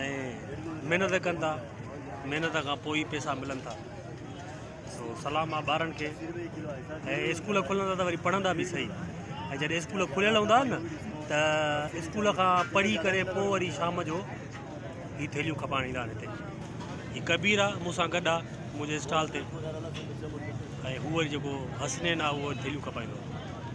۽ محنت ڪن ٿا محنت کان پوء ئي پيسا ملن ٿا سو سلام آ ٻارن کي ۽ اسڪول کلندا ته وري پڙهندا به صحيح ۽ جڏهن اسڪول کليل هوندا نه ته اسڪول کان پڙهي ڪري پوء وري شام جو هي ٿيليون کپائڻ ايندا آهن هتي هي ڪبير آ مون سان گڏ آ منهنجي اسٽال تي ۽ هو وري جيڪو حسنين آ اهو ٿيليون کپائيندو آ